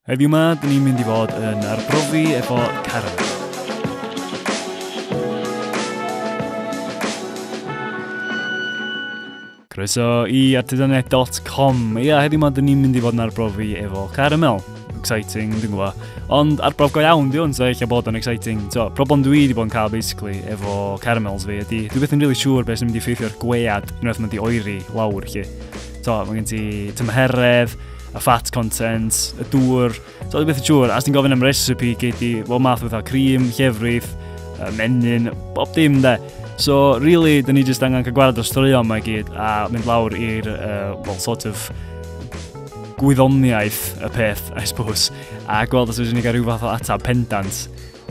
Heddiw ma, dyn ni'n mynd i fod yn arbrofi efo Karen. Croeso i artisanedd.com. Ia, heddiw ma, dyn ni'n mynd i fod yn arbrofi efo Caramel exciting, dwi'n gwybod. Ond arbrof go iawn, di hwn, so eich bod yn exciting. So, problem dwi wedi bod yn cael, basically, efo caramels fi, ydy, dwi beth yn really siŵr beth sy'n mynd i ffeithio'r gwead unwaith mae'n di oeri lawr, chi. So, mae gen ti tymheredd, y fat content, y dŵr, so dwi'n beth y siŵr, as ti'n gofyn am recipe, gei di, wel math o fatha cream, llefrith, menyn, bob dim de. So, really, dyn ni jyst angen cael gwared o'r straeon mae gyd a mynd lawr i'r, uh, well, sort of, gwyddoniaeth y peth, I suppose, a gweld os ydyn ni gael rhyw fath o atab pendant.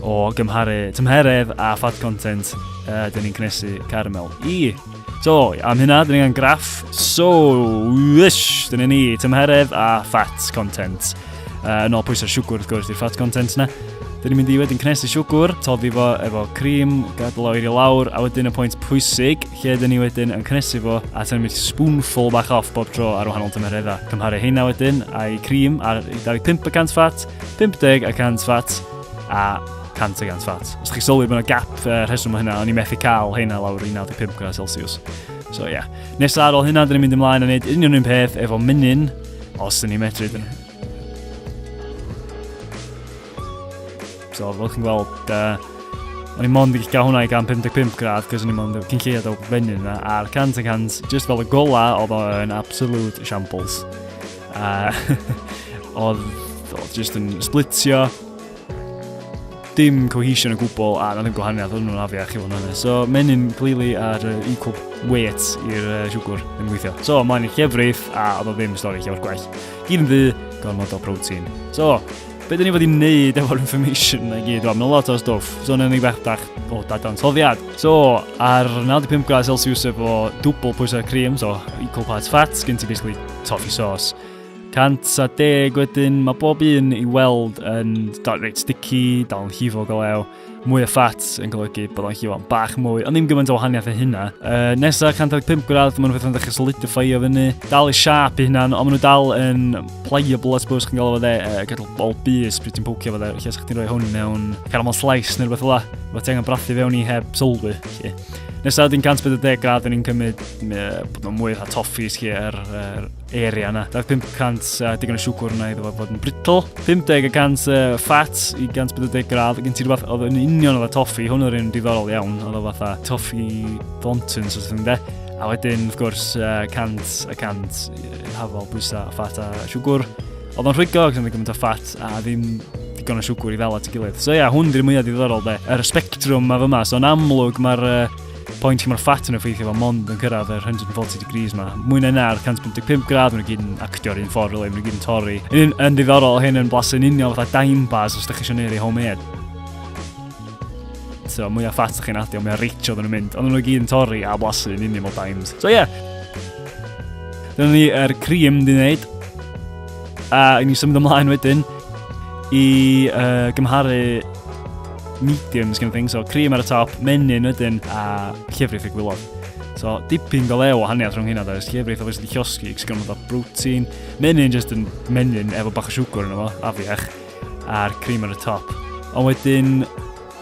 O gymharu tymheredd a fat content, uh, dyn ni'n cnesu caramel. I! So, am hynna, dyn ni'n graff. So, wish, dyn ni tymheredd a fat content. Uh, yn ôl pwysau siwgwr, wrth gwrs, i'r fat content na. Dyn ni'n mynd i wedyn cnesu siwgwr, toddi fo efo cream, gadael o'r i lawr, a wedyn y pwynt pwysig, lle dyn ni wedyn yn cnesu fo, a tynnu mynd spoonful bach off bob tro ar wahanol tymereddau. Cymharu heina wedyn a'i cream ar 25% fat, 50 y 100 fat, a 100 y gant fat. Os chi'n sylwi bod yna gap uh, rheswm o hynna, o'n i'n methu cael hynna lawr i 95 gradd Celsius. So ie. Yeah. Nesa ar ôl hynna, dyn ni'n mynd ymlaen a wneud union un peth efo mynyn, os dyn ni'n medru. Dyn. So, fel chi'n gweld, uh, o'n i'n mond i gael hwnna i gan 55 gradd, cos o'n i'n mond cyn lleiad o fenyn yna, a'r 100 y 100, just fel y gola, oedd o'n absolute shambles. A oedd, oedd just yn splitio. Dim cohesion o gwbl a na ddim gwahaniaeth oedd nhw'n afiach i fod yn So menyn clearly ar uh, equal weight i'r uh, siwgr yn gweithio. So mae'n llefrif a oedd o ddim stori llawer gwell. Gyd yn ddu, gormod o protein. So, be dyn ni fod i wneud efo'r information na gyd? Wel, mae'n lot o stwff. So, yna ni bach o dadansoddiad. So, ar 95 gradd Celsius efo dwbl pwysau cream, so equal parts fat, gen ti basically toffee sauce. 110 wedyn, mae bob un i weld yn dal reit sticky, dal yn llifo golew, mwy o ffat yn golygu bod o'n llifo'n bach mwy, ond ddim gymaint o wahaniaeth y hynna. Uh, nesa, 115 gradd, maen nhw'n ddechrau solidifio fyny, dal i siap i hynna'n, ond maen nhw dal yn pliable, I suppose, chi'n gael o fe, uh, gadw bol bus pryd ti'n pocio fe, lle sa'ch ti'n rhoi hwn mewn caramel slice neu rhywbeth fel la, fe ti angen brathu fewn i heb sylwi, lle. Nesaf dyn 140 grad yn ni'n cymryd bod nhw'n mwy o toffis chi ar er, area yna. Daeth 500 uh, digon o siwgwr yna iddo fo fod yn brittle. 50 y cant uh, ffat i 140 grad. Gen ti rhywbeth oedd yn union oedd y toffi. Hwn oedd yn diddorol iawn. Oedd o fatha toffi fonton, so sy'n de. A wedyn, wrth gwrs, uh, cant y cant hafol bwysa a ffat a siwgwr. Oedd o'n rhwygo ac oedd gymaint o ffat a ddim digon o siwgwr i ddal at y gilydd. So ia, yeah, hwn di'r mwyaf diddorol de. Yr y spectrwm ma fyma, so yn amlwg mae'r uh, pwynt lle mae'r ffat yn effeithio fo mond yn cyrraedd yr 140 degrees ma. Mwy na na'r 155 grad, mae'n gyd yn actio'r un ffordd, really, mae'n gyd yn torri. Yn, yn diddorol, hyn yn blasu yn union fatha dime bars os ydych chi eisiau neud ei homemade so mwy o ffat ydych chi'n adio, mwy o reach oedden nhw'n mynd. Oedden nhw'n gyd yn torri a blasu yn union o dimes. So ie, yeah, Dyna ni er cream di wneud. A i ni symud ymlaen wedyn i uh, gymharu mediums kind of thing. So cream ar y top, menyn wedyn a llefrith y gwylod. So dipyn galeu o haniaeth rhwng hynna does. Llefrith obviously di llosgi, cos gynnu bod protein. Menyn just yn menyn efo bach o siwgr yn efo, afiach. A'r cream ar y top. Ond wedyn,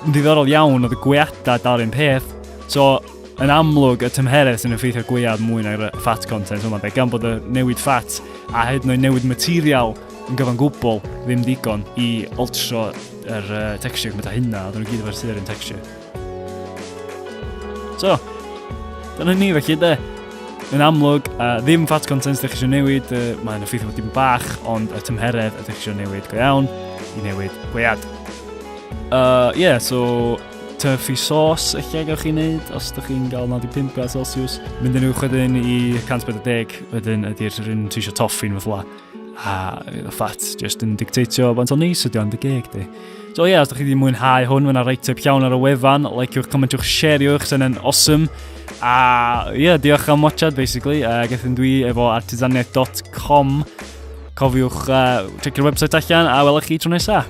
yn ddiddorol iawn oedd y gweadau dal un peth. So, Yn amlwg, y tymheredd sy'n effeithio gwead mwy na'r fat content yma, be, gan bod y newid fat a hyd yn oed newid material yn gyfan gwbl ddim digon i oltro yr uh, texture gymaint â hynna, oedden nhw gyd efo'r sy'r un texture. So, dyna ni felly de. Yn amlwg, uh, ddim fat content ydych chi eisiau newid, uh, mae'n effeithio bod dim bach, ond y tymheredd ydych chi eisiau newid go iawn i newid gwead. Uh, yeah, so Tyfu sos eich lle gawch chi wneud os ydych chi'n gael 95 grad Celsius. Mynd yn uwch wedyn i 140 wedyn ydy'r rhywun ti eisiau toffi yn fatha a y ffat just yn dictatio faint o neis ydy o'n dy geg di. So ie, yeah, os ydych chi wedi mwynhau hwn, mae'n rhaid typ llawn ar y wefan, likewch, comentiwch, share'iwch, sy'n yn awesome. A ie, yeah, diolch am watchad, basically. Uh, Gethyn dwi efo artisaniaeth.com. Cofiwch uh, checio'r website allan a welwch chi tro nesaf.